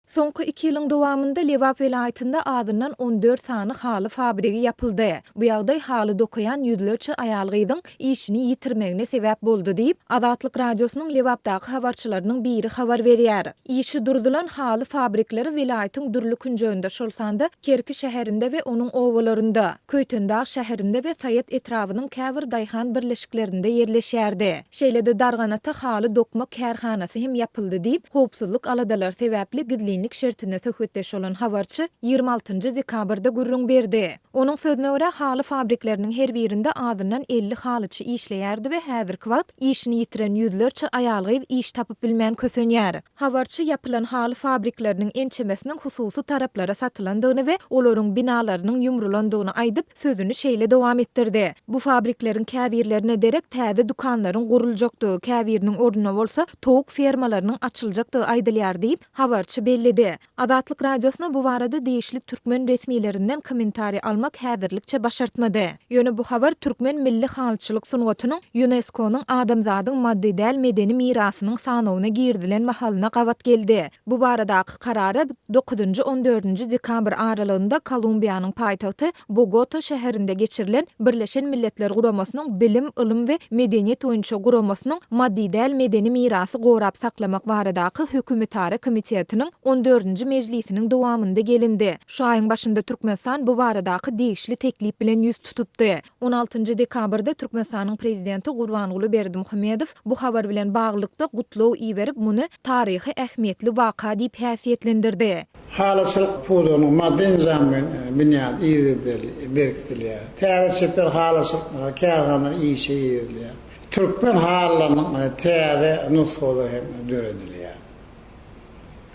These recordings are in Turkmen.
Soňky iki ýylyň dowamynda Lebap welaýatynda azyndan on dört sany haly fabrigi ýapyldy. Bu ýagdaý haly dokaýan ýüzlerçe aýal-gyzyň işini ýitirmegine sebäp boldy diýip, Azatlyk Radiosynyň Lebapdaky habarçylarynyň biri habar berýär. Işi durzulan haly fabrikleri welaýatyň dürli künjeginde, şol sanda Kerki şäherinde we onuň obalarynda, Köýtendag şäherinde we Saýat etrabynyň käbir daýhan birleşiklerinde ýerleşýärdi. Şeýle-de Darganata haly dokma kärhanasy hem ýapyldy diýip, howpsuzlyk aladalary sebäpli gizlinlik şertinde söhbetdeş bolan habarçy ýigrimi altynjy dekabrda gürrüň berdi. Onuň sözüne görä, haly fabrikleriniň her birinde azyndan elli halyçy işleýärdi we häzirki wagt işini ýitiren ýüzlerçe aýal-gyz iş tapyp bilmän kösenýär. Habarçy ýapylan haly fabrikleriniň ençemesiniň hususy taraplara satylandygyny we olaryň binalarynyň ýumrulandygyny aýdyp, sözüni şeýle dowam etdirdi, Bu fabrikleriň käbirlerine derek täze dükanlaryň guruljakdygy, käbiriniň ornuna bolsa towuk fermalarynyň açyljakdygy aýdylýar diýip, habarçy belledi. Azatlyk Radiosyna bu barada degişli türkmen resmilerinden kommentariý almak häzirlikçe başartmady. Ýöne bu habar türkmen milli halyçylyk sungatynyň Ýunesko-nyň Adamzadyň maddy däl medeni mirasynyň sanawyna girizilen mahalyna gabat geldi. Bu baradaky karara dokuzynjy-on dördünji dekabr aralygynda Kolumbiýanyň paýtagty Bogota şäherinde geçirilen Birleşen Milletler Guramasynyň Bilim, ylym we medeniýet boýunça guramasynyň Maddy däl medeni mirasy gorap saklamak baradaky hökümetara komitetiniň on dördünji mejlisiniň dowamynda gelindi. Şu aýyň başynda Türkmenistan bu baradaky degişli teklip bilen ýüz tutupdy. On altynjy dekabrda Türkmenistanyň Prezidenti Gurbanguly Berdimuhamedow Bu habar bilen baglylykda gutlag iberip, muny taryhy ähmiýetli waka diýip häsiýetlendirdi. Halyçylyk pudagynyň maddy-enjamy binýady yzygiderli berkidilýär. Täze çeper halyçylyk kärhanalary işe girizilýär. Türkmen halylarynyň täze nusgalary hem döredilýär.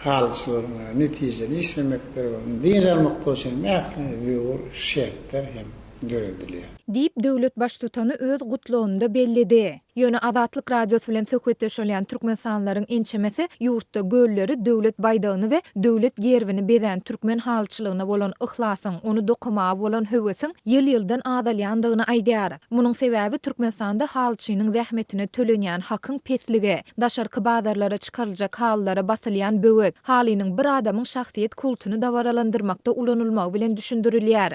Halyçylaryň netijeli işlemekleri we ony dynç almaklygy üçin hem ähli zerur şertler hem. döredilýär. Diýip, döwlet Baştutany öz gutlagynda belledi. Ýöne Azatlyk Radiosy bilen söhbetdeş bolýan türkmenistanlylaryň ençemesi ýurtda gölleri, döwlet baýdagyny we döwlet gerbini bezän türkmen halyçylygyna bolan yhlasyň, ony dokamaga bolan höwesiň ýyl-ýyldan azalýandygyny aýdýar. Munuň sebäbi Türkmenistanda halyçynyň zähmetine tölenýän hakyň pesligi, daşarky bazarlara çykaryljak halylara basylýan böwet, halynyň bir adamyň şahsyýet kultuny dabaralandyrmakda ulanylmagy bilen düşündirilýär.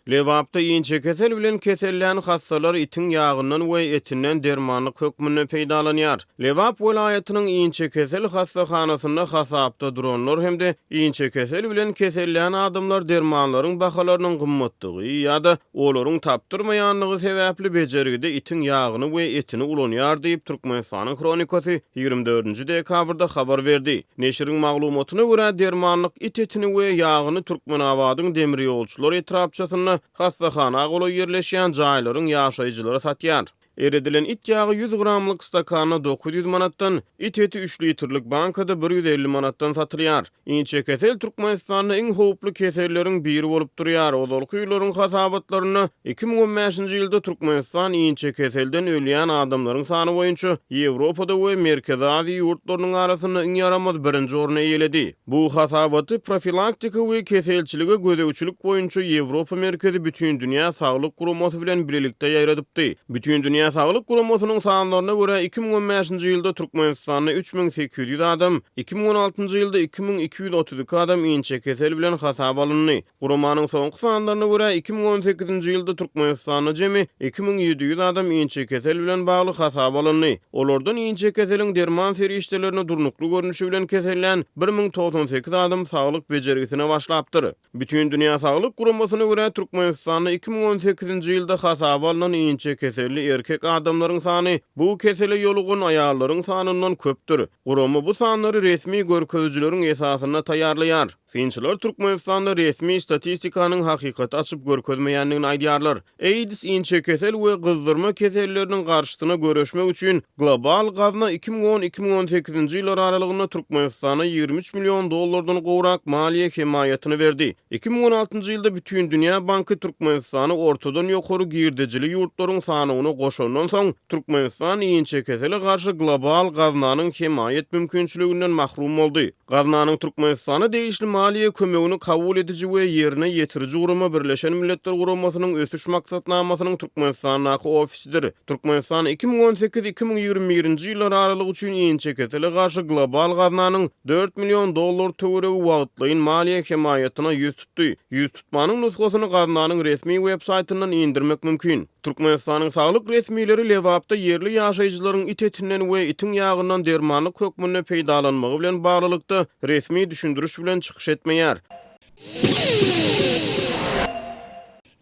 Lebapda inçekesel bilen kesellän hassalar itiň ýagyndan we etinden dermanlyk hökmünde peýdalanýar. Lebap welaýatynyň inçekesel hassahanasynda hasapda duranlar hem-de inçekesel bilen kesellän adamlar dermanlaryň bahalarynyň gymmatdygy ýa-da olaryň tapdyrmaýanlygy sebäpli bejergide itiň ýagyny we etini ulanýar diýip, Türkmenistanyň Hronikasy ýigrimi dördünji dekabrda habar berdi. Neşiriň maglumatyna görä, dermanlyk it etini we ýagyny Türkmenabadyň Demirýolçular etrapçasynda hassahana golaý ýerleşýän jaýlaryň ýaşaýjylary satýar. Eredilen it ýagy ýüz gramlyk stakanda dokuz ýüz manatdan, it eti üç litrlik bankada bir ýüz elli manatdan satylýar. Inçekesel Türkmenistanda iň howply keselleriň biri bolup durýar. Ozalky ýyllaryň hasabatlarynda iki müň on bäşinji ýylda Türkmenistan inçekeselden ölýän adamlaryň sany boýunça Ýewropada we Merkezi Aziýa ýurtlarynyň arasynda iň ýaramaz birinji orny eýeledi. Bu hasabaty Profilaktika we keselçilige gözegçilik boýunça Ýewropa merkezi Bütindünýä saglyk guramasy bilen bilelikde ýaýradypdy. Bütindünýä saglyk guramasynyň sanlaryna görä, iki müň on bäşinji ýylda Türkmenistanda üç müň sekiz ýüz adam, iki müň on altynjy ýylda iki müň iki ýüz otuz iki adam inçekesel bilen hasaba alyndy. Guramanyň soňky sanlaryna görä, iki müň on sekizinji ýylda Türkmenistanda jemi iki müň ýedi ýüz adam inçekesel bilen bagly hasaba alyndy. Olardan inçekeseliň derman serişdelerini durnukly görnüşi bilen kesellän bir müň togsan sekiz adam saglyk bejergisine başlapdyr. Bütindünýä saglyk guramasyna görä, Türkmenistanda iki müň on sekizinji ýylda hasaba alnan inçekeselli erkek adamlaryň sany bu kesele ýolugan aýallaryň sanyndan köpdür. Gurama bu sanlary resmi görkezijileriň esasynda taýýarlaýar. Synçylar Türkmenistanda resmi statistikanyň hakykaty açyp görkezmeýändigini aýdýarlar. AIDS, inçekesel we gyzdyrma keselleriniň garşysyna göreşmek üçin global gazna iki müň on-iki müň on sekizinji ýyllar aralygynda Türkmenistana ýigrimi üç million dollardan gowrak maliýe hemaýatyny berdi. Iki müň on altynjy ýylda Bütindünýä banky Türkmenistany ortadan ýokary girdejili ýurtlaryň sanawyna goşandan soň, Türkmenistan inçekesele garşy global gaznanyň hemaýat mümkinçiliginden mahrum boldy. Gaznanyň Türkmenistana degişli maliýe kömegini kabul ediji we ýerine ýetiriji gurama Birleşen Milletler Guramasynyň Ösüş Maksatnamasynyň Türkmenistandaky ofisidir. Türkmenistan iki müň on sekiz, iki müň ýigrimi birinji ýyllar aralygy üçin inçekesele garşy global gaznanyň dört million dollar töweregi wagtlaýyn maliýe hemaýatyna ýüz tutdy. Ýüztutmanyň nusgasyny gaznanyň resmi web-saýtyndan indirmek mümkin. Türkmenistanyň saglyk resmileri Lebapda ýerli ýaşaýjylaryň it etinden we itiň ýagyndan dermanlyk hökmünde peýdalanmagy bilen baglylykda resmi düşündiriş bilen çykyş etmeýär.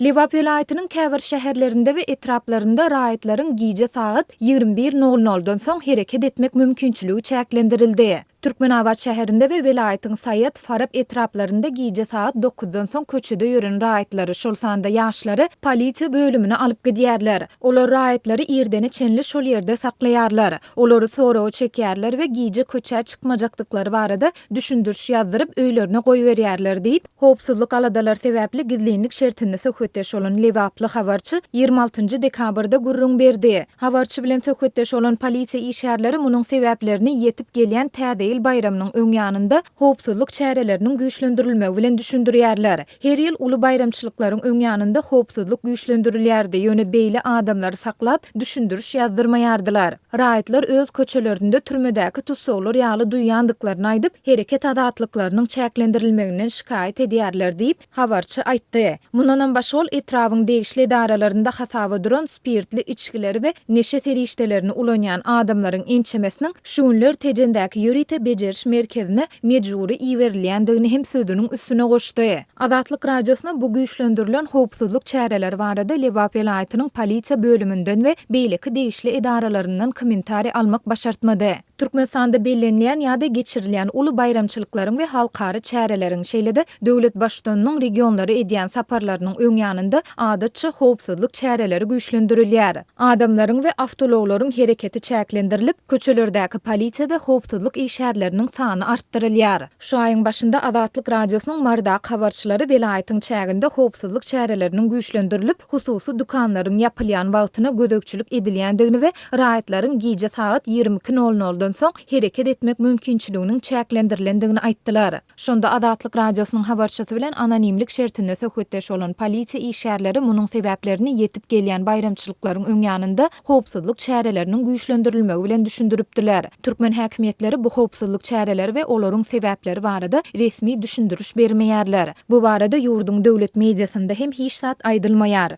Lebap welaýatynyň käbir şäherlerinde we etraplarynda raýatlaryň gije sagat ýigrimi bir nol noldan soň hereket etmek mümkinçiligi çäklendirildi. Türkmenabat şäherinde we welaýatyň Saýat, Farap etraplarynda gije sagat dokuzdan soň köçede ýören raýatlary, şol sanda ýaşlary polisiýa bölümine alyp gidýärler. Olar raýatlary irdene çenli şol ýerde saklaýarlar. Olary soraga çekýärler we gije köçä çykmajakdyklary barada düşündiriş ýazdyryp, öýlerine goýberýärler diýip, Howpsuzlyk aladalary sebäpli gizlinlik şertinde söhbetdeş bolan lebaply habarçy ýigrimi altynjy dekabrda gürrüň berdi. Habarçy bilen söhbetdeş bolan polisiýa işgärleri munuň sebäplerini ýetip gelýän Täze ýyl baýramynyň öňýanynda howpsuzlyk çäreleriniň güýçlendirilmegi bilen düşündirýärler. Her ýyl uly baýramçylyklaryň öňýanynda howpsuzlyk güýçlendirilýärdi, ýöne beýle adamlary saklap, düşündiriş ýazdyrmaýardylar. Raýatlar öz köçelerinde türmedäki tussaglar ýaly duýýandyklaryny aýdyp, hereket azatlyklarynyň çäklendirilmeginden şikaýat edýärler diýip, habarçy aýtdy. Mundanam başga ol etrabyň degişli edaralarynda hasaba duran spirtli içgileri we neşe serişdelerini ulanýan adamlaryň ençemesiniň şu günler Tejendäki ýörite bejeriş merkezine mejbury iberilýändigini hem sözüniň üstüne goşdy. Azatlyk Radiosyna bu güýçlendirilen howpsuzlyk çäreleri barada Lebap welaýatynyň polisiýa bölüminden we beýleki degişli edaralaryndan kommentariý almak başartmady. Türkmenistanda bellenilýän ýa-da geçirilýän uly baýramçylyklaryň we halkara çäreleriň, şeýle-de döwlet Baştutanynyň regionlara edýän saparlarynyň öň ýanynda, adatça, howpsuzlyk çäreleri güýçlendirilýär. Adamlaryň we awtoulaglaryň hereketi çäklendirilip, köçelerdäki polisiýa we howpsuzlyk işgärleriniň sany artdyrylýar. Şu aýyň başynda Azatlyk Radiosynyň Marydaky habarçylary welaýatyň çäginde howpsuzlyk çäreleriniň güýçlendirilip, hususy dükanlaryň ýapylýan wagtyna gözegçilik edilýändigini we raýatlaryň gije sagat ýigrimi iki nol noldan soň hereket etmek mümkinçiliginiň çäklendirilendigini aýtdylar. Şonda Azatlyk Radiosynyň habarçysy bilen anonimlik şertinde söhbetdeş bolan polisiýa işgärleri munuň sebäplerini ýetip gelýän baýramçylyklaryň öň ýanynda howpsuzlyk çäreleriniň güýçlendirilmegi bilen düşündiripdiler. Türkmen häkimiýetleri bu howpsuzlyk çäreleri we olaryň sebäpleri barada resmi düşündiriş bermeýärler. Bu barada ýurduň döwlet mediasynda hem hiç zat aýdylmaýar.